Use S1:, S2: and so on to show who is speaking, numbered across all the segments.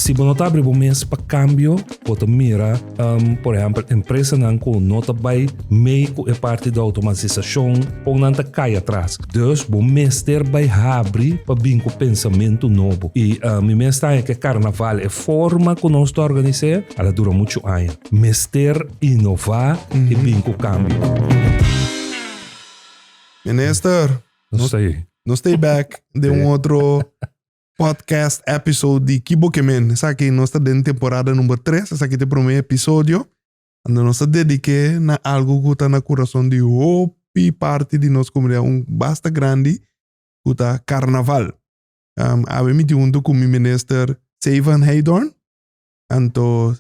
S1: Si bo no ta abri bo mes pa kambio, bo ta mira, um, por ehempel, empresanan ku no ta bai mei ku e parti di automatisashon, kon nan ta kai atras. Dus, bo mester bai habri pa bin ku pensamentu nobo. I um, mi mester haña ku e karnaval, e forma ku nos ta organis'é, al a dura muchu aña. Mester inová i bin ku kambio.
S2: Minister, Nos ta ei.
S1: nos ta ei bèk
S2: den un otro podcast episode di Ki Bo Ke Men. Esaki nos ta den temporada number tres, esaki ta e prome episodio unda nos ta dedike na algu ku ta na kurason di hopi parti di nos komunidat, un basta grandi ku ta karnaval. Awe mi tinta huntu ku mi minister Seyvan Heydorn. Anto,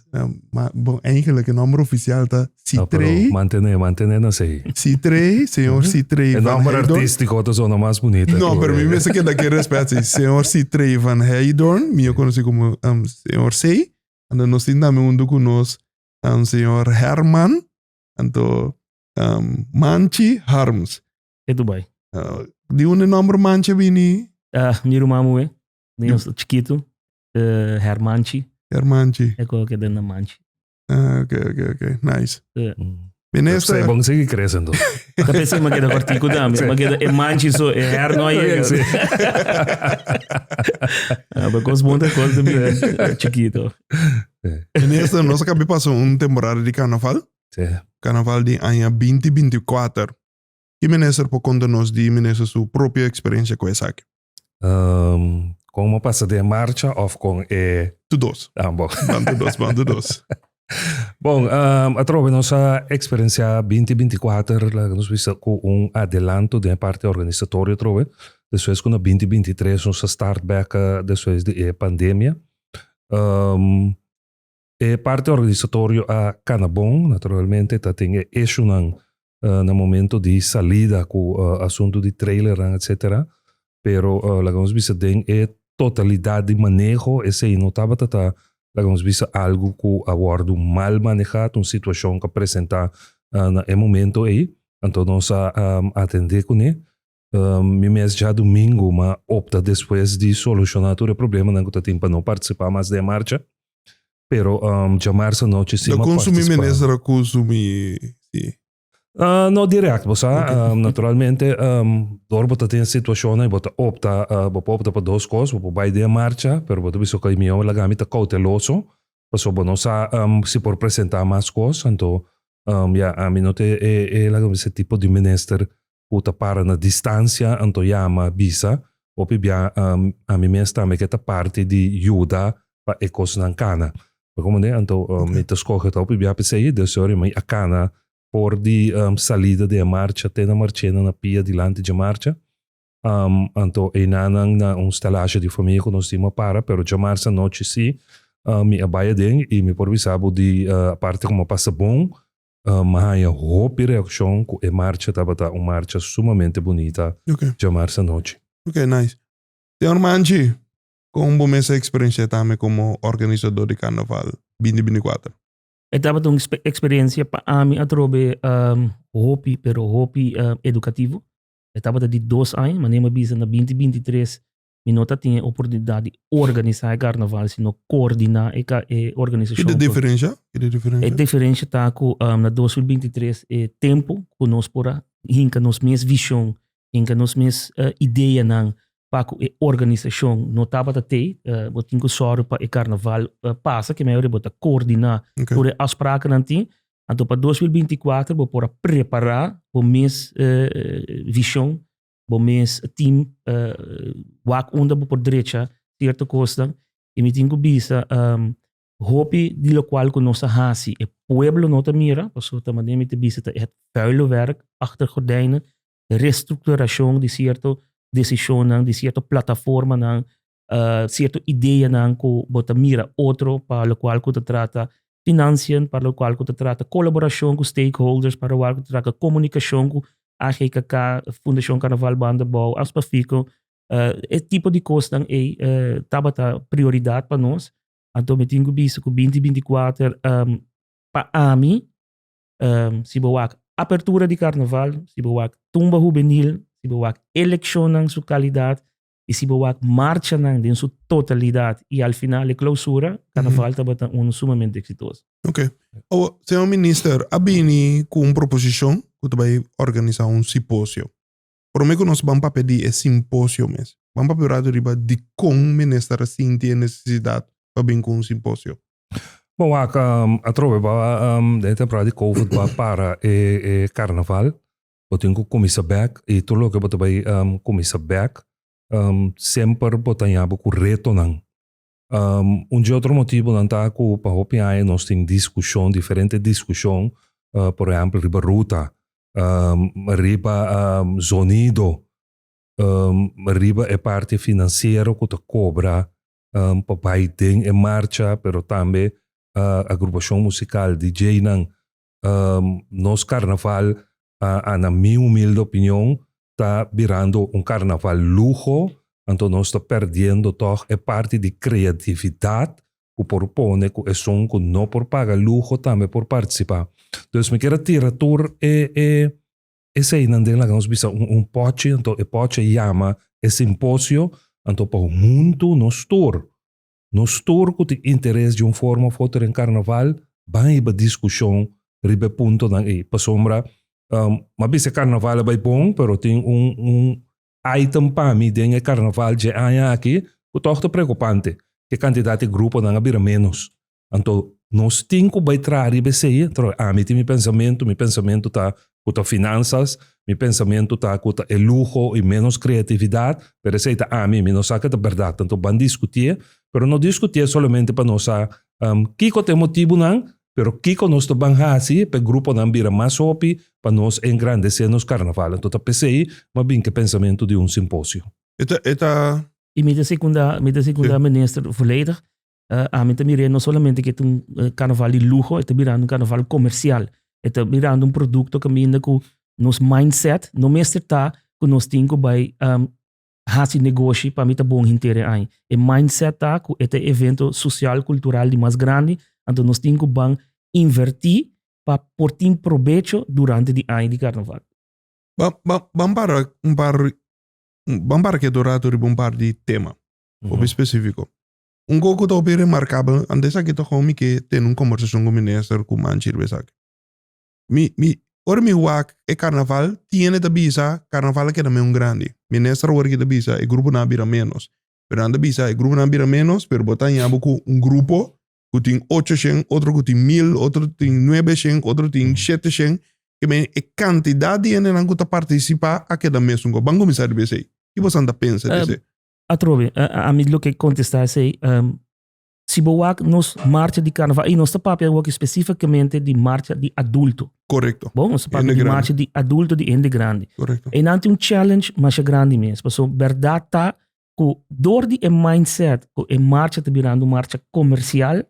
S2: ma bon eigenlijk e nomber oficial ta Citrey. No, pero mantene, mantene nos
S1: ey. Citrey, señor
S2: Citrey Van Heydon. E nomber artistico
S1: ta zona
S2: mas
S1: bonita. No, pero mi me se keda
S2: ke respect si. Señor Citrey Van Heydon, mi yo conoci como um, señor Sey. Anto nos tin también un duku nos um, señor Herman, anto um, Manchi Harms. E Dubai. Uh,
S3: di un
S2: nomber Manchi bini? Ah, mi rumamu
S3: e, niño chiquito. E hermanchi.
S2: Hermanchi.
S3: E cojo
S2: que den na manchi. Ah, ok, ok, ok. Nice. Yeah. Mm. Minister. Zij bon sigui crece
S1: entonces. Ka pensé ma keda
S3: kortiku dami. Ma keda e manchi so e her no llega. Sí. Ah, pa kos bon ta kos de mi chikito.
S2: Minister, nos akabi pasa un temporada di carnaval. Sí. Carnaval
S1: di aña
S2: binti binti kuater. Ki minister por conta nos di minister su propio experiencia cu esaki? Um,
S1: con mo pasa den marcha of con e. Tu dos.
S2: Ah, bon. Ban tu dos,
S1: ban tu dos.
S2: Bon,
S1: um, atrobe nos a experiencia 2024, la nos bisa cu un adelanto den parte organisatorio atrobe. Despues cu na 2023 nos a start back despues de e pandemia. Um, E parti organisatorio a kana bon, naturalmente ta tin e issuenan na momento di salida ku asuntu di trailernan etcetera, pero laga nos bisa den e totalidat di maneho esei no tabata ta laga nos bisa algu ku a wòrdu mal maneha, ta un situashon ku a presenta na e momento ei, anto nos a atende kuné. Mi mes djadumingu mi a opta despues di solushona tur e problemanan ku ta tin pa no partisipá mas den e marcha. Pero djamarsa nochi si mi a partisipá. Lo konsumí menes
S2: rakusu mi si?
S1: No dirèkt, bo sa. Naturalmente dor bo ta tin situashonnan i bo ta opta, bo por opta pa dos kos. Bo por bai den e marcha, pero bo ta bisa oke, mi mihó mi laga mi ta kouteloso pasobra bo no sa si por presentá mas kos. Anto, ya, ami no ta e, laga mi bisa, e tipo di minister ku ta para na distansia anto yama bisa hopi bia ami mes tambe ke ta parti di yuda pa e kosnan kana. Mi komo den anto mi ta skohe ta hopi bia p'esei e Dios e ora mi a kana for di salida di e marcha te na marchena na pia dilanti dje marcha anto einanan na un stelaasje di famia ku nos tin a para pero dje marsa nochi si mi a bai aden i mi por bisa bo di aparte ku mi a pasa bon Mi a haña hopi reaccion cu e marcha tabata un marcha sumamente bunita djamarsa anochi. Ok, nice.
S2: Señor Manchi, con bo mester experiencia tambe como organizador di Carnaval binti binti cuater? E tabata un
S3: experiencia pa ami atrobe hopi pero hopi educativo. E tabata di dos aña, mane mi a bisa na binti binti tres Mi no ta tin e oportunidat di organisa e karnaval, sino koordina e, e organisashon. Kide diferensha? Kide
S2: diferensha? E diferensha
S3: ta ku um, na 2023 e tempo ku nos por hinka nos mes vision, hinka nos mes uh, eh, idea nan pa ku e organisashon no tapa ta te, uh, bo tin ku sorry pa e karnaval uh, pasa ke mayor bo ta koordina okay. tur e afspraken nan tin. Anto pa 2024 bo por prepara bo mes uh, vision bo mes team wak unda bo por drecha sierto kosnan y mi tin cu bisa hopi di locual cu nos a haci e pueblo no ta mira, pasobra ta manera mi ta bisa ta e vuile werk achter gordijnen, restructuracion di cierto decisionnan, di cierto plataformanan uh, cierto idea nan ku bo ta mira otro pa lo cual ku ta trata financiën, para lo cual ku ta trata colaboración ku stakeholders, para lo cual ku ta trata comunicación ku AGKK, Fundación Carnaval Banda Bou, Aspafico, uh, e tipo di kosnan ei uh, tabata prioridad pa nos. Anto mi tin ku bisa ku 2024 um, pa ami um, si bo wak apertura di carnaval, si bo wak tumba juvenil, si bo wak eleccionnan su calidad, Y si bo wak marchanan den su totalidad y al final e clausura, Carnaval tabata uno sumamente exitoso. Ok. Awa,
S2: señor Minister, a bini cu un proposicion cu ta bay organisa un siposio. Prome cu nos ban papia di e simposio mes, ban papia orado riba dicon minister a sinti e necesidad pa bin cu un simposio. Bo wak,
S1: atrobe ba den e temporada di covid ba para e Carnaval. Bo tin ku kuminsa bèk i tur loke bo ta bai kuminsa bèk semper bo ta ña bo ku retonan. Un di otro motibunan ta ku pa hopi aña nos tin diskushon, diferente diskushon, por ehèmpel riba ruta, riba zonido, riba e parti finansiero ku ta kobra pa bai den e marcha, pero tambe agrupashon musikal, DJnan, Um, nos carnaval, a, a na mi humilde opinion, ta birando un carnaval luho, anto nos ta perdiendo toch e parti di creatividad cu por pone cu esun cu no por paga luho tambe por participa. Dus mi kier a tira tur e, e, eseinan den laga nos bisa un, un pochi, anto e pochi a yama e simposio, anto pa hunto nos tur Nos tur ku tin interes di un forma of otro den karnaval ban hiba diskushon riba e puntonan ei. Pasobra m'a bisa e karnaval a bai bon, pero tin un un item pa mi den e karnaval dje aña aki ku tòg ta preokupante, ku e kantidat di gruponan a bira ménos. Anto nos tin ku bai traha riba esei, pero ami tin mi pensamentu, mi pensamentu ta Cu ta finanzas, mi pensamiento ta cu ta e luho y menos creatividad, pero esey ta ami, mi no sa cu ta berdad, anto ban discutié, pero no discutié solamente pa nos sa kico ta e motibunan, pero kico nos ta ban haci pa e gruponan bira mas hopi pa nos engrandecé nos carnaval, anto ta pesey mas bien cu e pensamiento di un simposio. E ta.
S3: Y mi ta secunda, mi ta secunda Minister volledig. Uh, eh, ami ta miré no solamente que un uh, eh, carnaval de lujo, está virando un carnaval comercial. Está virando un producto que minda que nos mindset no mester está que nos tem que vai um, hacer negocio para mim tá bom inteiro aí. E mindset tá que este evento social cultural de mais grande, então nos tem que van invertir para por ter proveito durante o ano de carnaval. Vamos para um par,
S2: vamos para que dourado um par de tema, uhum. ou específico. Un goe cu ta hopi remarcabel, ante esaki toca un mi ke tene un conversacion cu minister cu manchi riba esaki. Mi, mi, ora mi wak e carnaval tiene ta bisa carnaval a keda men un grandi. Minister awor aki ta bisa e gruponan a bira menos. Pero nan ta bisa e gruponan a bira menos pero bo ta haña bo cu un grupo cu tin ocho shen, otro cu tin mil, otro tin nuebe shen, otro tin shete shen. Ke men e cantidad di hendenan cu ta participa a keda mesun. Bo a cuminsa riba esey. Kiboso nan ta pensa di esey? Atrobe,
S3: a mi lo ke kontestá esei, si bo wak nos marcha di karnaval, i nos ta papia awor espesífikamente di marcha di adulto. Korekto. Bon, nos ta
S2: papia di
S3: marcha di adulto di hende grandi. Korekto. Einan tin un
S2: challenge
S3: masha grandi mes, paso bèrdat ta ku dor di e mindset ku e marcha ta birando un marcha komersial,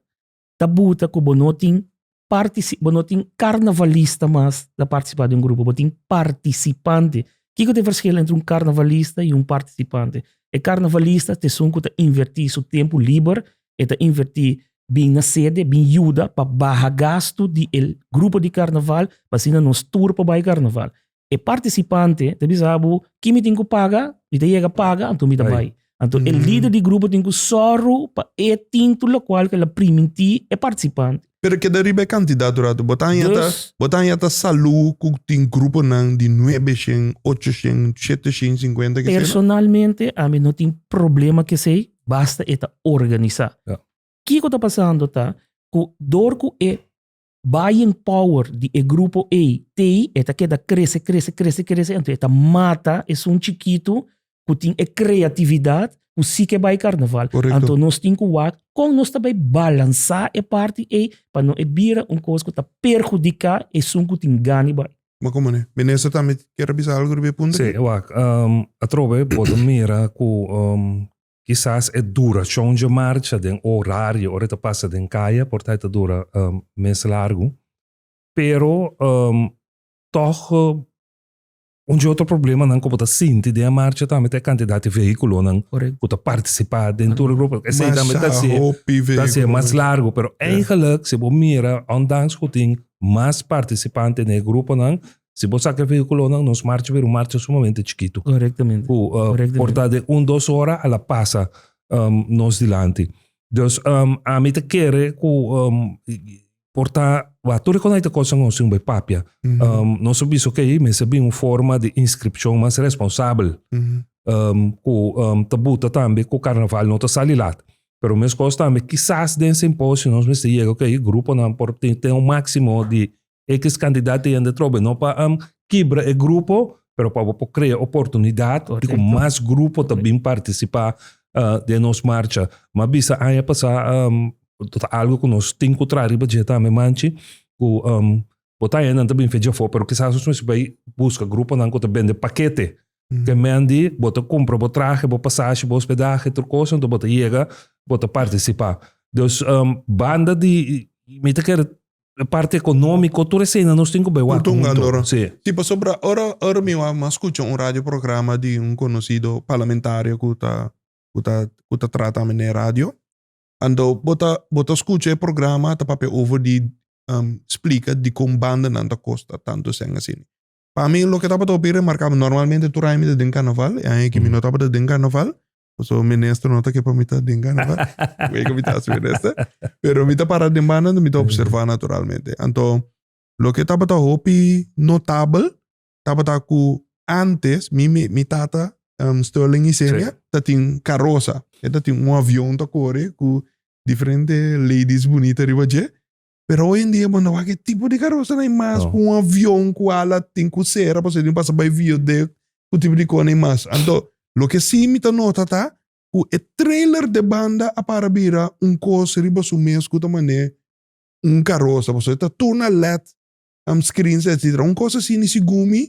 S3: ta buta ku bo no tin partisi bo no tin karnavalista mas ta partisipa di un grupo, bo tin partisipante. Kiko ta e verskil entre un karnavalista i un partisipante? E karnavalista ta esun ku ta invertí su tempu liber, e ta invertí bin na sede, bin yuda pa baha gastu di e grupo di karnaval pa asina nos tur por bai karnaval. E partisipante ta bisa bo, ki mi tin ku paga? Mi ta yega paga, anto mi ta bai. Anto e lider di grupo tin ku sòru pa e tintu lokual ku el a primintí e partisipante. Pero e keda riba e
S2: kantidat tur atu. Bo ta haña ta, bo ta haña ta salú ku tin gruponan di nuebe shen, ocho shen, shete shen i sinkuenta, k'e sey no? Personalmente
S3: ami no tin problema k'esei, basta e ta organisá. Kiko ta pasando ta ku dor ku e buying power di e grupo A tei e ta keda krese, krese, krese, krese, anto e ta mata esun chikitu ku tin e kreatividat ku si ke bai karnaval. Korekto. Anto nos tin ku
S2: wak
S3: kon nos ta bai balansá e parti ei pa no e bira un kos ku ta perhudiká esun ku tin gani bai. Ma kon manera? Minister
S2: tambe kier a bisa algu riba e punto aki? Sí, wak,
S1: atrobe bo ta mira ku Kisas e durashon dje marcha den orario ora e ta pasa den kaya por ta e ta dura mes largu. Pero tòg un dje otro problemanan ku bo ta sinti den e marcha tambe ta e kantidat di vehikulonan ku ta partisipá den tur e grupo. Esei tambe ta hasi e mas largu. Pero eigelijk si bo mira, ondans ku tin mas partisipante na e gruponan, Si bo saca e vehiculonan, nos marcha bira un marcha sumamente chiquito. Correctamente. Cu uh, Correctamente.
S3: porta de
S1: un, dos hora a la pasa um, nos dilanti. Dus um, a mi te kere cu um, porta wa tur con te cosa nos sin papia. Mm -hmm. um, nos aviso que okay, mesa bin un forma de inscripción más responsable. Mm -hmm. um, cu um, te buta tambe cu carnaval no te sali lat. Pero mes cosa tambe, quizás den simposio nos mesti llega que okay, grupo nan por ten, ten un máximo de X cantidad di hende trobe, no pa am kibra e grupo, pero pa bo por crea oportunidad di cu mas grupo ta bin participa den nos marcha. M'a bisa aña pasa ta algo cu nos tin cu traha riba dje tambe manchi, cu bo ta haya nan ta bin fecha afo, pero kisas nos mester bay busca gruponan cu ta bende pakete, te mendi bo ta cumpra bo trahe, bo pasashi, bo hospedahe, tur cos, enton bo ta yega, bo ta participa. Dus banda di mi ta kere Na parti economico, tur esena nos tin cu bay wak hunto. Sí. Sí, pasobra
S2: ora, ora mi wak mas scucha un radio programa di un conocido parlamentario cu ta, cu ta, cu ta trata ami na e radio. Anto bo ta, bo ta scucha e programa ta papia over di splica dicon bandanan ta costa tanto eseng asina. Pa mi loke tabata hopi remarcabel, normalmente tur aña mi ta den carnaval, e aña aki mi no tabata den carnaval, Paso minister no ta ke pa mi ta den gana pa wei ku mi ta hasi minister. Pero mi ta para den banda mi ta observa naturalmente. Anto loke tabata hopi notabel tabata ku antes mi mi mi tata um Sterling Isenia ta tin karosa. E ta tin un avion ta kore ku diferente ladies bunita riba dje Pero hoy en dia bo no wak e tipo di karosanan ei mas ku un avion ku ala tin ku sera pasobra tin ku pasa bai vio den ku tipo di kosnan ei mas. Anto loke si mi ta nota ta ku e trailer den banda a para bira un kos riba su mes ku ta manera un karosa pasobra e ta tur na led screens etcetera un kos asina i si gumi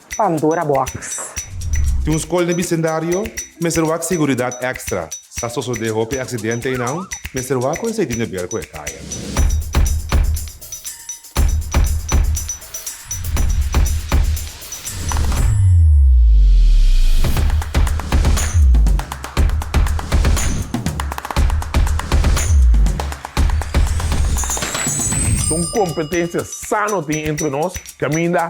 S4: Pandora Box. Tin un skol
S5: den bisendario, mester wak seguridat èkstra. Sa sosodé hopi aksidente einan, mester wak kuen seidí nebel ku e kaya.
S6: Ta un kompetensia sano tin entre nos kaminda.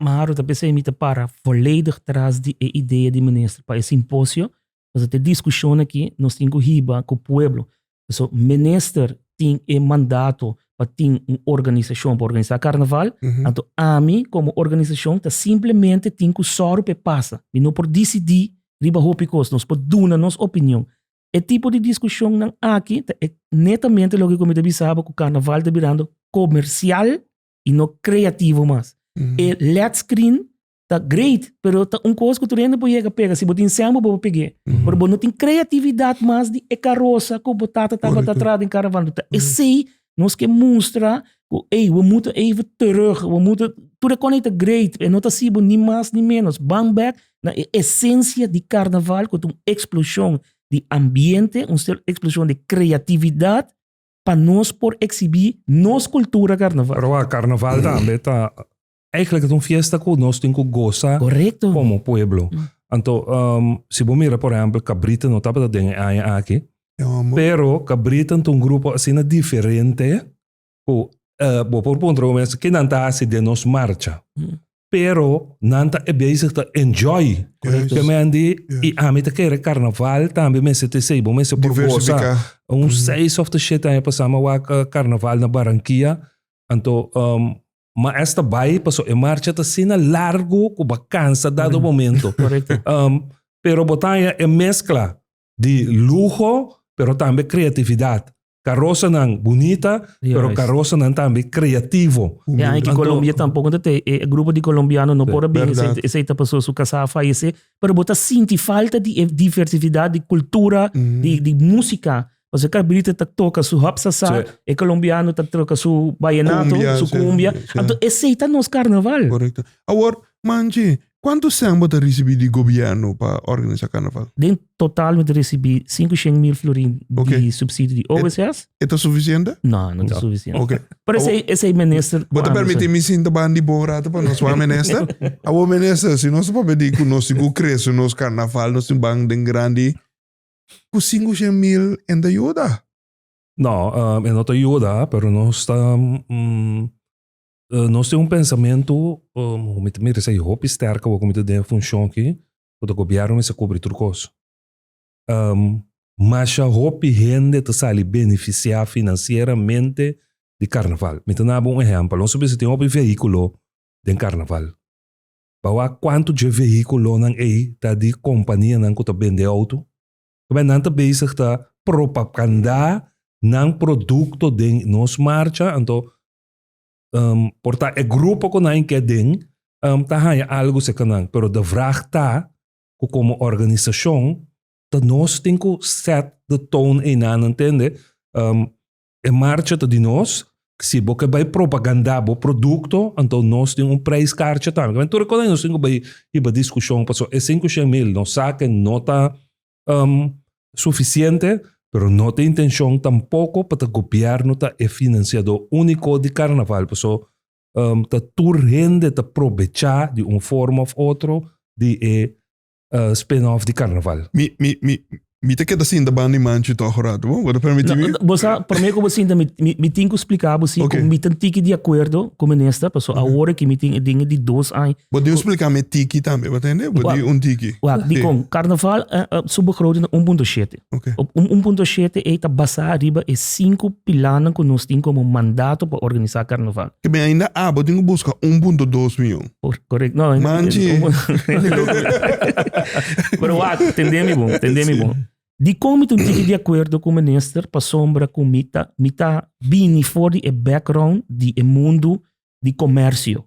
S3: Maharo ta p'esei mi ta para voledig tras di e idea di minister pa e simposio, pasobra ta e diskushon aki nos tin ku hiba ku pueblo. So, minister tin e mandato pa tin un organisashon pa organisá karnaval, anto ami komo organisashon ta simplemente tin ku sòru pa e pasa. Mi no por disidí riba hopi kos, nos por duna nos opinion. E tipo di diskushonnan aki ta netamente loke ku mi ta bisaba ku karnaval ta birando komersial, y no creativo mas. E LED screen ta great, pero ta un cosa que turende bo llega pega. Si bo tin sembo, bo pegue. Pero bo no tin creatividad mas di e carroza que bo tata taba ta atrás den caravana. Ta esey nos ke mustra ku ey, we moeten even terug, we moeten... Tur e kosnan ey ta great, pero e no ta sibo ni mas ni menos. Bang back na e esencia di carnaval, ku ta un explosión di ambiente, un explosión di creatividad, pa nos por exhibí nos cultura carnaval. Pero a carnaval
S1: tambe ta eigenlijk un fiesta cu nos tin cu goza Correcto. como pueblo. Anto um, si bo mira por ejemplo Cabrita no tabata den e aña aki, pero Cabrita ta un grupo asina diferente cu uh, bo por puntra un mes, kinan ta haci den nos marcha? pero nan ta e bezig ta enjoy con el temen di
S2: y
S1: ami ta kere carnaval tambe mester te sei bo mester por goza un seis
S2: of the shit
S1: aña pasa mi wak carnaval na Barranquilla anto um, ma es ta bai paso e marcha ta sina largo cu bo cansa dado momento um,
S3: pero bo
S1: ta aña e mezcla di luho, pero tambe creatividad. Carosanan bunita, pero Juist. carosanan tambe creativo. E aña ki Anto- Colombia
S3: tampoco ta te
S1: e
S3: grupo di colombiano no por a bini Verdad. esei esei ta paso su
S2: casa a
S3: fallece pero bo ta sinti falta di e diversidad di cultura Mhm. di di musica pasobra cabrita ta toca su hop sasa Sí. e colombiano
S1: ta
S3: toca su vallenato Cumbia, su sí, cumbia sí.
S2: anto esei
S3: ta
S2: nos
S3: carnaval Correcto. Awor,
S2: manje, Kuantu sèn bo ta risibí di gobièrnu pa organisá karnaval? Den total mi ta
S3: risibí sinku shen mil florin di supsidio di
S2: OSS.
S3: E ta sufisiente?
S2: No, no ta sufisiente.
S3: Pero esei minister ku Bo ta permití mi sinta
S2: ban di bo un ratu pa nos wak minister? Awor minister, si nos ta papia di ku nos tin ku krese nos karnaval, nos tin ban den grandi, ku sinku shen mil e no ta yuda? No,
S1: e no ta yuda, pero nos ta Uh, nos tem un pensamento, um, hoe mi te mira sei hopi sterk, hoe mi te den función ki, hoe de gobierno mi se cobri tur cos. Um, masha hopi hende te sali beneficia financieramente di carnaval. Mi te na un ejempel, ons bisa tem hopi vehiculo den carnaval. Bawa quanto je vehiculo nan ei ta di compania nan kuta bende auto, Kebe nan te bezig ta propaganda nan producto den nos marcha, anto Um, por ta e grupo con nan que den um, ta haya algo se kanan. Pero de vraag ta, ku como organisación, ta nos tin ku set de tone e nan, entende? Um, e marcha ta di nos, si bo ke bai propaganda bo producto, anto nos tin un prijskaartje tambe. Men tur konan nos tin ku bai hiba discusión, paso e 500 mil, nos sa ke no ta um, sufisiente, pero no ta intencion tampoco pa ta gobierno ta e financiador único di carnaval, paso um, ta tur hende ta probecha di un forma of otro di e uh, spin-off di carnaval. Mi, mi, mi, mi
S2: te queda sin da banda manchi toch rato, bo? Wat permiti mi? Bosa, primeiro que você mi,
S3: mi, mi tem que explicar você okay. como mi tem que de
S2: acordo
S3: com minister, porque uhum. agora que mi tem de de dois anos Bo di un spliká me
S2: tiki tambe, bo ta hende? Bo di un tiki. Wak, dikon,
S3: karnaval su begroting ta un punto shete. Un un
S2: punto shete
S3: ei ta basá ariba e sinku pilánan ku nos tin komo mandato pa organisá karnaval. Ke ben ainda abo
S2: tin ku buska un punto dos mion. Korek. No, ainda un
S3: punto dos mion. Pero wak, tendé mi bon, tendé mi bon. Dikon mi ta un tiki di akuerdo ku minister pasobra ku mi ta mi ta bini for di e background di e mundu di komèrsio.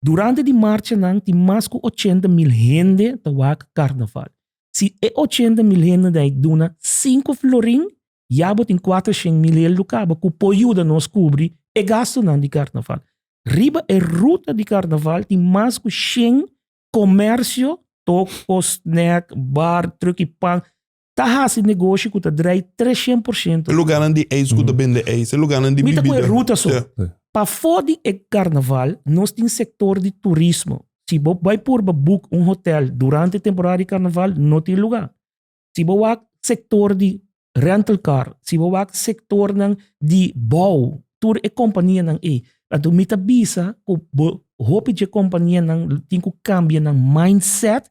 S3: Durante di marchanan tin mas ku ochenta mil hende ta wak karnaval. Si e ochenta mil hende dai duna sinku florin, ya bo tin kuater shen mil hel lu kaba ku por yuda nos kubri e gastunan di karnaval. Riba e ruta di karnaval tin mas ku shen komersio, toko, snèk, bar, truki pan, ta hasi negoshi ku ta drai 300 por shento. E lugarnan di eis ku
S2: ta mm. bende eis, e lugarnan di bibida. Mi ta ku e ruta so. Pa
S3: fo di e karnaval, nos tin sektor di turismo. Si bo bai purba boek un hotel durante temporada di karnaval, no tin lugar. Si bo wak sektor di rental car, si bo wak sektornan di bou, tur e kompanianan ei. Anto mi ta bisa ku bo hopi dje kompanianan tin ku kambia nan mindset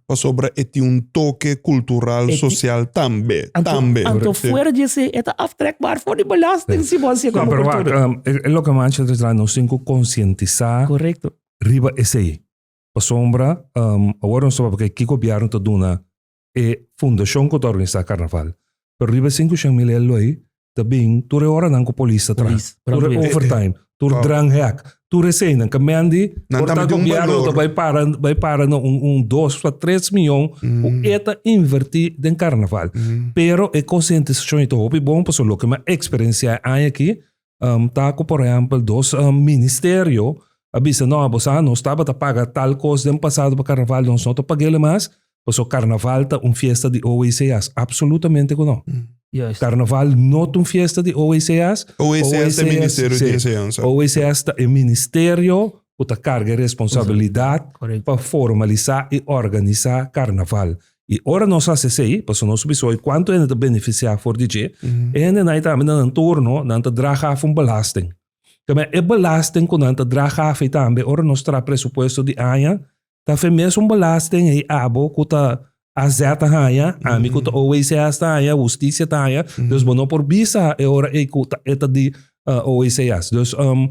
S3: pasobra e tin un
S2: toke kultural, sosial tambe, tambe. Anto fuera
S3: di esei e ta aftrekbaar for di belasting si bo hasié komo kultura. E
S1: loke mas
S3: ancha ta
S1: traha nos tin ku konsientisá
S3: riba esei.
S1: Pasobra awor nos ta papia ke kiko bièrnu ta duna e fundashon ku ta organisá karnaval. Pero riba e sinku shen mil ea loei ta bin tur e horanan ku polis ta traha, tur e
S3: overtime,
S1: tur drank hek,
S2: tur
S1: eseinan ke Mandy por ta gobièrnu
S2: ta bai para
S1: bai
S2: para na
S1: un un dos ta tres mion ku e ta invertí den karnaval. Pero e konsientisashon i ta hopi bon pasobra loke mi a eksperensiá e aña akí ta ku por ehèmpel dos ministerio a bisa, no, boso a nos tabata paga tal kos den pasado pa karnaval nos no ta pag'e mas, Paso carnaval ta un fiesta di OACA's? Absolutamente cu no. Juist. Carnaval
S3: no ta
S1: un fiesta di OACA's. OACA's ta e
S2: Ministerio di Enseñanza. OACA's
S1: ta
S2: e
S1: ministerio cu ta carga e responsabilidad pa
S3: formaliza
S1: y organiza carnaval. Y ora nos haci esey, paso nos bisa hoy cuanto hende ta beneficia for di dje, e hende na tambe na nan turno nan ta draga af un belasting. Cabia e belasting cu nan ta draga af ey tambe ora nos traha presupuesto di aña Ta fe mes un belasten ei abo ku ta AZ ta haña, ami ku ta OECS ta haña, hustisia ta haña. Dus bo no por bisa e ora ei ku ta e ta di eh, OECS. Dus em,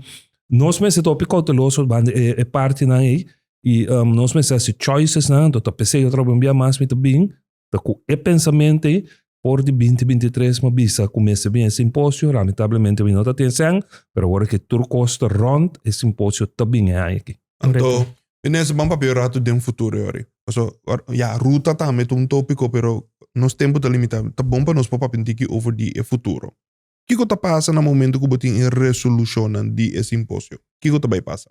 S1: nos mester ta hopi kouteloso banda e, e partinan ei. I em, nos mester hasi choicesnan, do ta p'esei otro bia mas mi ta bin. Ta cu e pensamentu ei for di binti binti i tres mi a bisa cu mester bin e simposio. Lamentablemente mi no ta tin esei, pero awor cu tur cos ta rond, e simposio ta bin e aña aki. Anto, mi
S2: mester ban papia un ratu den futuro yori. Paso, ya, ruta tambe ta un topico, pero nos tempo ta limita. Ta bon pa nos por papia un tiki over di e futuro. Kico ta pasa na momento cu bo tin e resolucionnan di e simposio? Kico ta bay pasa?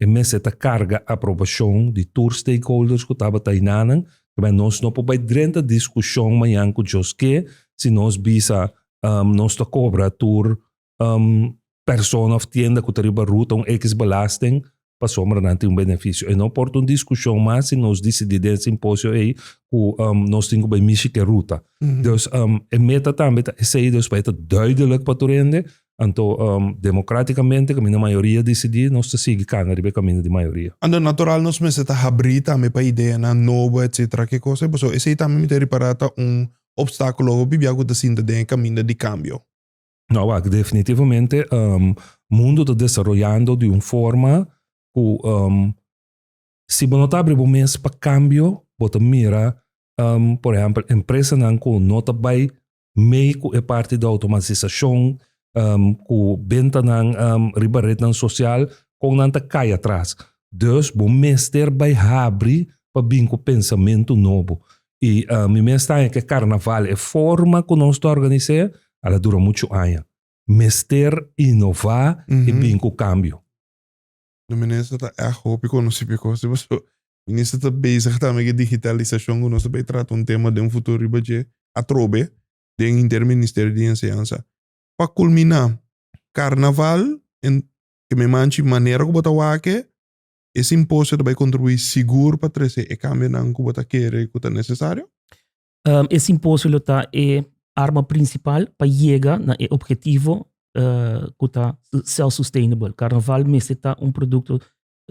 S1: E mester ta carga aprobacion di tur stakeholders cu tabata ei nanan, cabei nos no por bay drenta discusion mayan cu djos ke si nos bisa um nos ta cobra tur um persona of tienda cu ta riba ruta un X belasting pasobra nan tin un beneficio. E no por ta un discusion mas si nos dicidi den simposio ei cu um nos tin cu bay mishi ke ruta. Dus um e meta tambe ta esey, dus pa e ta duidelijk pa tur hende, Anto, um, democraticamente, caminda mayoria decidi, nos ta sigui cana riba caminda di mayoria. Anto, natural nos mester
S2: ta habri tambe pa ideanan nobo, etc. Ke cosa e paso? Esey tambe mi ta repara ta un obstaculo hopi bia cu ta sinta den e caminda di cambio? No, wak,
S1: definitivamente, um, mundo ta desaroyando di un forma cu, um, si bo no ta habri bo mes pa cambio, bo ta mira, um, por ehempel, empresanan cu no ta bay Mee ku e parti di outomatisashon ku bentanan riba retnan sosial kon nan ta kai atras. Dus bo mester bai habri pa bin ku pensamentu nobo. I mi mes ta haña ku e karnaval, e forma ku nos ta organis'é, al a dura muchu aña. Mester inová i bin ku kambio. No
S2: minister ta echt hopi conoci p'e cos dje pasobra minister ta bezig tambe cu e digitalisacion cu nos ta bay trata un tema den futuro riba dje atrobe den interministerio di enseñansa. Pa culmina, carnaval en ke mi manchi manera cu bo ta wake e simposio ta bay contribui sigur pa trece e cambionan cu bo ta kere cu ta necesario? Um, e
S3: simposio lo ta e arma principal pa yega na e objetivo uh, ku ta self-sustainable. Carnaval meste ta un produkto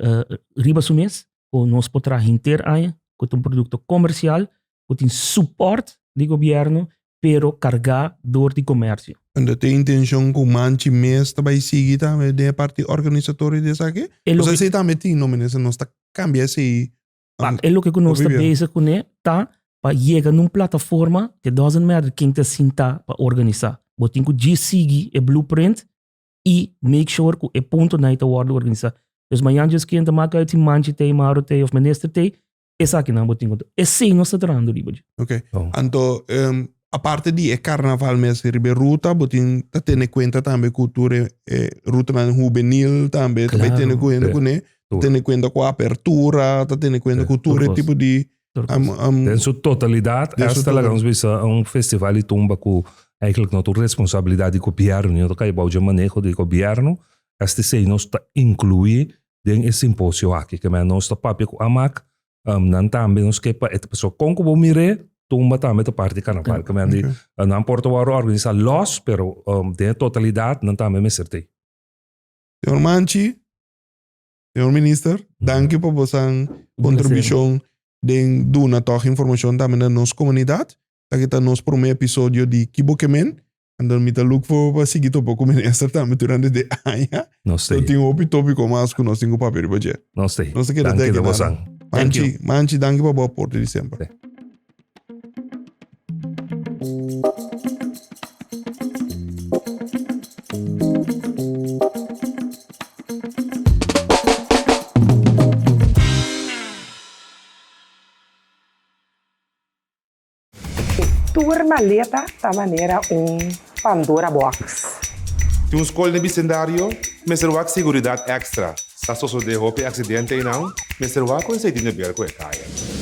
S3: uh, riba su mes, ku nos po traha hinter aña, ku ta un produkto komersial, ku tin support di gobierno, pero kargá door di komersio. En dat e intenshon
S2: ku manchi mes ta bai sigui tambe den e parti organisatorio di esaki? E lo O sea, ke- esei tambe tin, no, meneer, se nos ta kambia esei Pak e loke ku
S3: nos ta bezig kuné ta pa yega na un plataforma ke doesn't matter kin ta sintá pa organisá, bo tin ku djis sigui e blueprint i make sure ku e puntonan ei ta wòrdu organisá. Pues mañan djis kin ta maka ei tin Manchi t'ei, Mauro t'ei òf Minister t'ei, esakinan bo tin ku ta. Esei nos ta trahando riba dje. Oke. Anto,
S2: Aparte di e carnaval mes riba e ruta, bo tin ta tene cuenta tambe cu tur e, e rutanan juvenil tambe ta bay tene cuenta cu ne, ta tene cuenta cu apertura, ta tene cuenta cu tur e tipo di am, am, Den su
S1: totalidad, Den su esta laga nos bisa a un festival di tumba cu eigenlijk no ta un responsabilidad di gobierno, no ta cay bou dje maneho di gobierno, esta esey nos ta inclui den e simposio aki, ke men nos ta papia cu AMAC Um, nan tambe nos ke pa et so kon kubo mire tumba tambe te parti carnaval. Okay. Kami okay. uh, nan Porto Waro organisa los, pero um, de totalidad nan tambe
S2: mester te.
S1: Señor Manchi, señor
S2: minister, mm. dank u por bosan contribution den duna toch information tambe na nos comunidad. Aquí está nos primer episodio de Kibo Kemen. Anto mi ta look for pa sigui topa ku minister tambe durante de aña. Nos te. Lo tin hopi
S1: topiko mas
S2: ku nos tin ku papia riba dje. Nos te. Nos ta keda Danki teki
S1: Lobosan.
S2: nada. Thank you.
S1: Manchi, Manchi
S2: danki pa bo aporte di semper. Te.
S4: E tur maleta ta manera un Pandora box. Tin un
S5: skol den bisendario, mester wak seguridat ekstra. Sa sosodé hopi aksidente einan, mester wak ku e seitin de berko e kaya.